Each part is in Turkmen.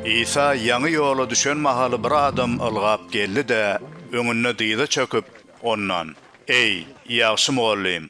Isa ýaňy ýola düşen mahaly bir adam ylgap geldi-de, öňünde dyza çöküp, Ondan, Eý, ýagşy mugallym,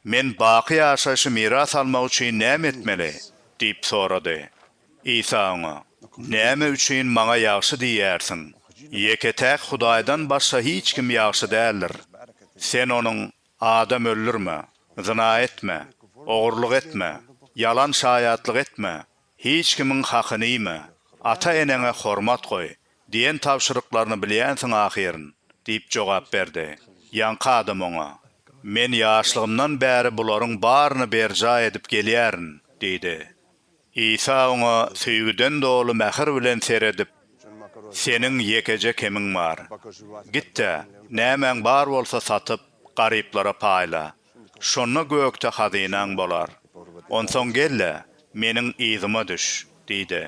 men baky ýaşaýşy miras almak üçin näme etmeli? diýip sorady. Isa oňa, Näme üçin Maňa ýagşy diýýärsiň? Ýeke-täk Hudaýdan başga hiç kim ýagşy däldir. Sen onuň, Adam öldürme, zyna etme, ogurlyk etme, ýalan şaýatlyk etme, Hiç kimiň hakyny iýme, ata-eneňe hormat goý diýen tabşyryklaryny bilýänsiň ahyryn, diýip jogap berdi. Ýaňky adam oňa, Men ýaşlygymdan bäri bularyň baryny berjaý edip gelýärin, diýdi. Isa oňa söýgüden doly mähir bilen seredip, Seniň ýekeje kemiň bar. Git-de, nämäň bar bolsa satyp, garyplara paýla. Şonda gökde hazynaň bolar. Onsoň gel-de, meniň yzyma düş, diýdi.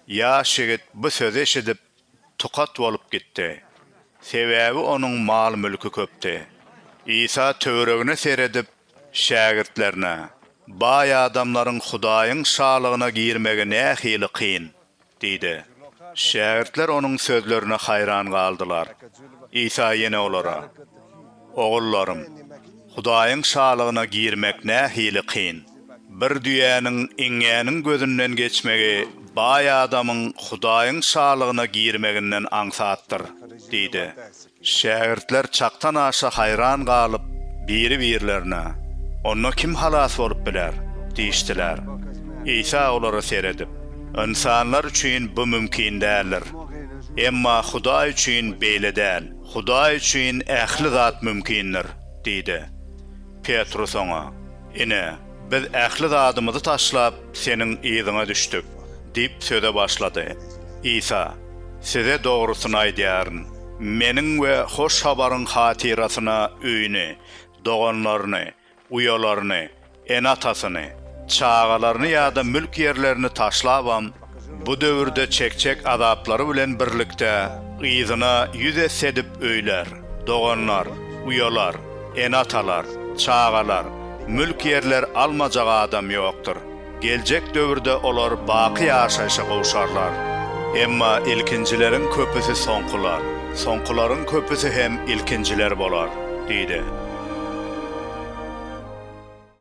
Ýaş ýigit bu sözi eşidip, tukat bolup gitdi. Sebäbi onuň mal-mülki köpdi. Isa töweregine seredip, şägirtlerine, Baý adamlaryň Hudaýyň Şalygyna girmegi nähili kyn! Diýdi. Şägirtler onuň sözlerine haýran galdylar. Isa ýene olara, Ogullarym, Hudaýyň Şalygyna girmek nähili kyn! Bir düýäniň iňňäniň gözünden geçmegi baý adamyň Hudaýyň Şalygyna girmeginden aňsatdyr diýdi. Şägirtler çakdan aşa haýran galyp, biri-birlerine, Onda kim halas bolup biler? diýişdiler. Isa olara seredip, Ynsanlar üçin bu mümkin däldir. Emma Hudaý üçin beýle däl. Hudaý üçin ähli zat mümkindir diýdi. Petrus oňa, Ine, biz ähli zadymyzy taşlap, Seniň yzyňa düşdük! diýip söze başlady. Isa, Size dogrusyny aýdýaryn, Meniň we Hoş Habaryň hatyrasyna öýüni, doganlaryny, uýalaryny, ene-atasyny, çagalaryny ýa-da mülk-ýerlerini taşlabam, Bu döwürde çekjek azaplary bilen birlikde yzyna ýüz esse edip öýler, doganlar, uýalar, ene-atalar, çagalar, mülk-ýerler almajak adam ýokdur. Geljek döwürde olar baky ýaşaýşa gowşarlar. Emma ilkinjileriň köpüsi soňkular, soňkularyň köpüsi hem ilkinjiler bolar, diýdi.